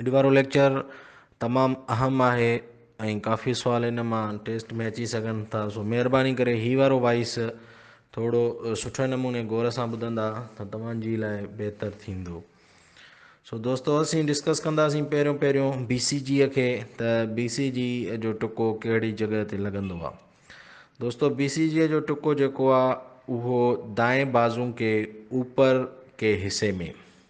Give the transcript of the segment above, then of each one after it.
اڄ وارو ليڪچر تمام اھم آھي ۽ ڪافي سوال ان مان ٽيسٽ ۾ اچي سگھن ٿا سو مھرباني ڪري ھي وارو وائس ٿورو سٺي نموني غور سان ٻڌندا ته توھان جي لاء بھتر ٿيندو سو دوستو اسين ڊسڪس ڪنداسين پهريون پهريون بي سي جي کي ته بي سي جي جو ٽڪو ڪهڙي جڳهه تي لڳندو آ دوستو بي سي جي جو ٽڪو جيڪو آ اهو دائين بازو ڪي اوپر ڪي حصي ۾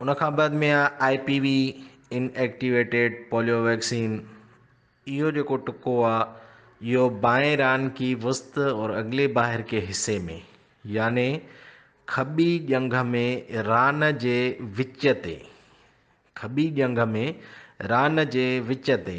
ان کان بعد ۾ I P V inactivated polio vaccine اهو جيڪو ٽڪو آهي اهو بائين ران ڪي وسط اور اگلي باهر ڪي حصي ۾ يعني کٻي ڄنگهه ۾ ران جي وچ تي کٻي ڄنگهه ۾ ران جي وچ تي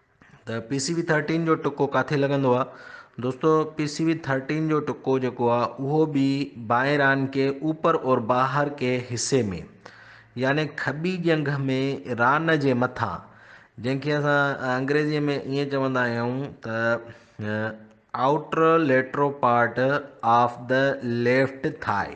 ته پي سي وي ٿرٽين جو ٽڪو ڪاٿي لڳندو آ دوستو پي سي وي ٿرٽين جو ٽڪو جيڪو آ اهو به بائران ڪي اوپر اور باهر ڪي حصي ۾ يعني کٻي ڄنگهه ۾ ران جي مٿان جنهن کي اسان انگريزي ۾ ائين چوندا آهيون ته outer lateral part of the left thigh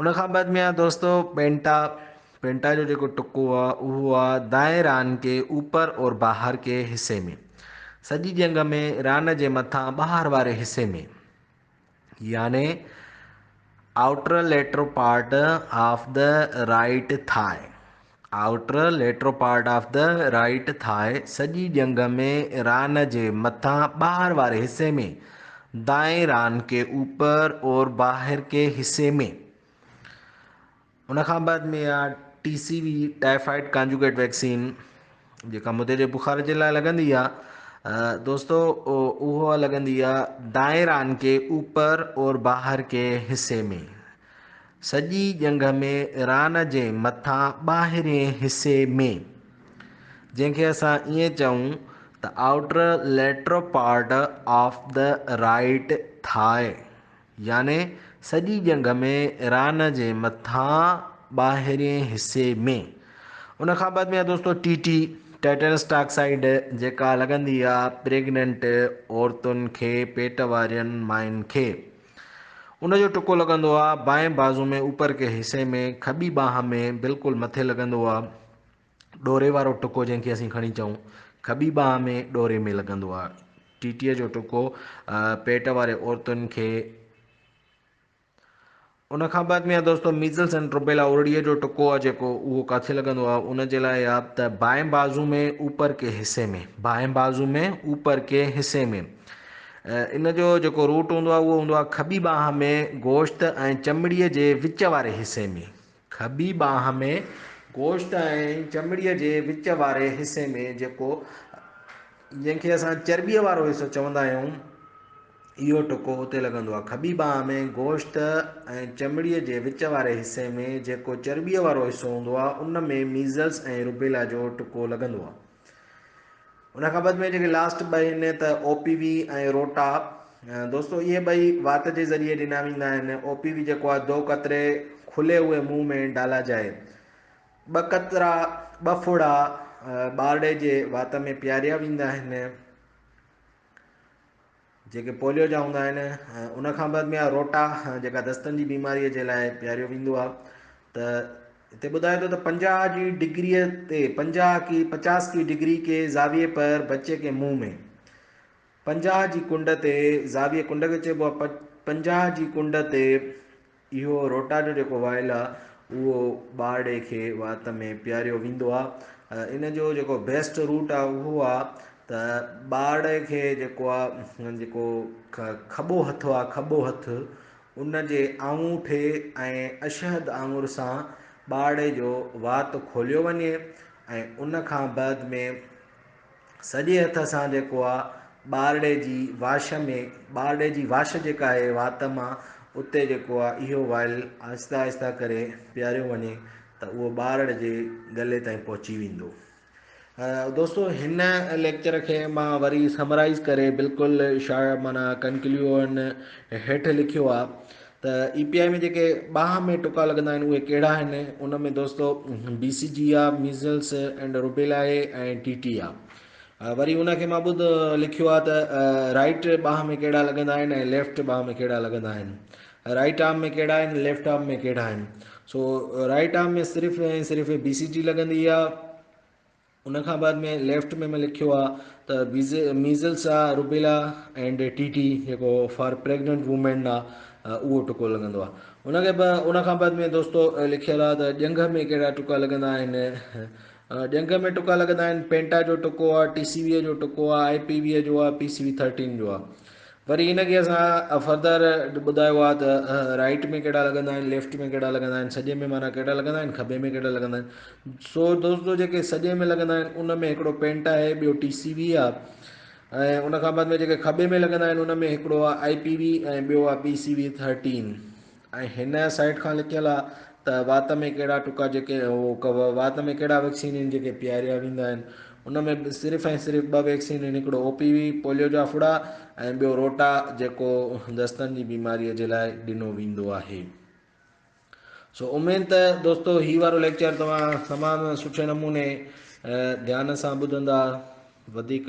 ان کان بعد ميان دوستو پينٽا پينٽا جو جيڪو ٽڪو آ اهو آ دائين ران ڪي اوپر اور باهر ڪي حصي ۾ سڄي جنگ ۾ ران جي مٿان ٻاهر واري حصي ۾ يعني outer lateral part of the right thigh outer lateral part of the right thigh سڄي ڄنگهه ۾ ران جي مٿان ٻاهر واري حصي ۾، دائين ران ڪي اوپر اور باهر ڪي حصي ۾. ان کان بعد ۾ آ T C V typhoid conjugate vaccine جيڪا مدي جي بخار جي لاء لڳندي آ دوستو اهو لڳندي آ دائين ران ڪي اوپر اور باهر ڪي حصي ۾. سڄي ڄنگهه ۾ ايران جي مٿان ٻاهرئين حصي ۾، جنهن کي اسان ائين چئون ته Outer Lateral Part of the Right Thigh، يعني سڄي ڄنگهه ۾ ايران جي مٿان ٻاهرئين حصي ۾. ان کان بعد ۾ آهي دوستو ٽي ٽي، Tetanus Toxoid، جيڪا لڳندي آهي پريگننٽ عورتن کي، پيٽ وارين ماين کي. ان جو ٽڪو لڳندو آ بائين بازو ۾ اوپر ڪي حصي ۾ کٻي ٻانهن ۾ بلڪل مٿي لڳندو آ ڏوري وارو ٽڪو جنهن کي اسين کڻي چئون کٻي ٻانهن ۾ ڏوري ۾ لڳندو آ ٽيٽيء جو ٽڪو پيٽ واري عورتن کي ان کان بعد ميان دوستو ميزلس اينڊ روبيلا اورڙيء جو ٽڪو آ جيڪو اهو ڪاٿي لڳندو آ ان جي لاء آ ته بائين بازو ۾ اوپر ڪي حصي ۾ بائين بازو ۾ اوپر ڪي حصي ۾ ان جو جيڪو روٽ هوندو آهي اهو هوندو آهي کٻي ٻانهن ۾ گوشت ۽ چمڙي جي وچ واري حصي ۾. کٻي ٻانهن ۾ گوشت ۽ چمڙي جي وچ واري حصي ۾ جيڪو جنهن کي اسان چرٻي وارو حصو چوندا آهيون اهو ٽڪو اتي لڳندو آهي. کٻي ٻانهن ۾ گوشت ۽ چمڙي جي وچ واري حصي ۾ جيڪو چرٻي وارو حصو هوندو آهي ان ۾ ميزلس ۽ روبيلا جو ٽڪو لڳندو آهي. ان کان بعد ۾ جيڪي لاسٽ ٻه آهن ته او پي وي ۽ روٽا دوستو اهي ٻئي وات جي ذريعي ڏنا ويندا آهن او پي وي جيڪو آهي دو قطري کلي هئي منهن ۾ ڊالا جائي ٻه قطرا ٻه ڦڙا ٻارڙي جي وات ۾ پياريا ويندا آهن جيڪي پوليو جا هوندا آهن ان کان بعد ۾ روٽا جيڪا دستن جي بيماري جي لاء پياريو ويندو آهي ته هتي ٻڌائي ٿو ته پنجاهه جي ڊگري تي پنجاهه ڪي پچاس ڪي ڊگري ڪي زاويي پر بچي ڪي منهن ۾ پنجاهه جي ڪنڊ تي زاويي ڪنڊ کي چئبو آهي پنجاهه جي ڪنڊ تي اهو روٽا جو جيڪو وائل آ اهو ٻارڙي کي وات ۾ پياريو ويندو آ ان جو جيڪو بيسٽ روٽ آ اهو آ ته ٻارڙي کي جيڪو آ جيڪو کٻو هٿ آ کٻو هٿ ان جي آڱوٺي ۽ اشهد آڱر سان ٻارڙي جو وات کوليو وڃي ۽ ان کان بعد ۾ سڄي هٿ سان جيڪو آ ٻارڙي جي واش ۾ ٻارڙي جي واش جيڪا آهي وات مان اتي جيڪو آ اهو وائل آهستي آهستي ڪري پياريو وڃي ته اهو ٻارڙ جي ڳلي تائين پهچي ويندو دوستو هن ليڪچر کي مان وري سمرائز ڪري بلڪل شا مانا ڪنڪليوئن هيٺ لکيو آ ته اي پي آء ۾ جيڪي باهه ۾ ٽڪا لڳندا آهن اهي ڪهڙا آهن ان ۾ دوستو B C G I, measles and rubella A ۽ T T I. وري ان کي مان ٻڌ لکيو آهي ته رائيٽ باهه ۾ ڪهڙا لڳندا آهن ۽ ليفٽ باهه ۾ ڪهڙا لڳندا آهن. رائيٽ آرم ۾ ڪهڙا آهن ليفٽ آرم ۾ ڪهڙا آهن. سو رائيٽ آرم ۾ صرف ۽ صرف بي سي جي لڳندي آهي ان کان بعد ۾ ليفٽ ۾ مين لکيو آ ته ميزلس آ روبيلا اينڊ ٽي ٽي جيڪو فار پريگننٽ وومين آ اهو ٽڪو لڳندو آ ان کي ان کان بعد ۾ دوستو لکيل آ ته ڄنگهه ۾ ڪهڙا ٽڪا لڳندا آهن ڄنگهه ۾ ٽڪا لڳندا آهن پينٽا جو ٽڪو آ ٽي سي وي جو ٽڪو آ آء پي وي جو آ پي سي وي ٿرٽين جو آ وري ان کي اسان فردر ٻڌايو آ ته رائيٽ ۾ ڪهڙا لڳندا آهن ليفٽ ۾ ڪهڙا لڳندا آهن سڄي ۾ معنيٰ ڪهڙا لڳندا آهن کٻي ۾ ڪهڙا لڳندا آهن سو دوستو جيڪي سڄي ۾ لڳندا آهن ان ۾ هڪڙو پينٽ آهي ٻيو ٽي سي وي آ ۽ ان کان بعد ۾ جيڪي کٻي ۾ لڳندا آهن ان ۾ هڪڙو آ آئي پي وي ۽ ٻيو آ پي سي وي ٿرٽين ۽ هن سائيٽ کان لڪيل آ ته وات ۾ ڪهڙا ٽڪا جيڪي وات ۾ ڪهڙا ويڪسين هن جيڪي پياريا ويندا آهن ان ۾ صرف ۽ صرف ٻه ويڪسين هن هڪڙو او پي وي پوليو جا ڦڙا ۽ ٻيو روٽا جيڪو دستن جي بيماري جي لاء ڏنو ويندو آهي سو اميد ته دوستو هي وارو ليڪچر توهان تمام سٺي نموني ڌيان سان ٻڌندا وڌيڪ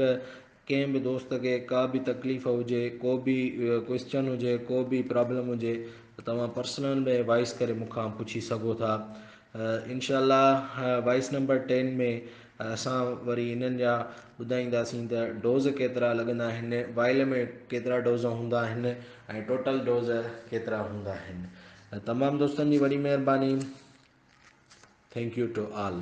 ڪنهن به دوست کي ڪا به تڪليف هجي ڪو به ڪوئسچن هجي ڪو به پرابلم هجي ته توهان پرسنل ۾ وائس ڪري مون کان پڇي سگهو ٿا انشاء الله وائس نمبر ٽين ۾ اسان وري انهن جا ٻڌائينداسين ته ڊوز ڪيترا لڳندا آهن وائل ۾ ڪيترا ڊوز هوندا آهن ۽ ٽوٽل ڊوز ڪيترا هوندا آهن تمام دوستن جي وڏي مهرباني ٿينڪ يو ٽو آل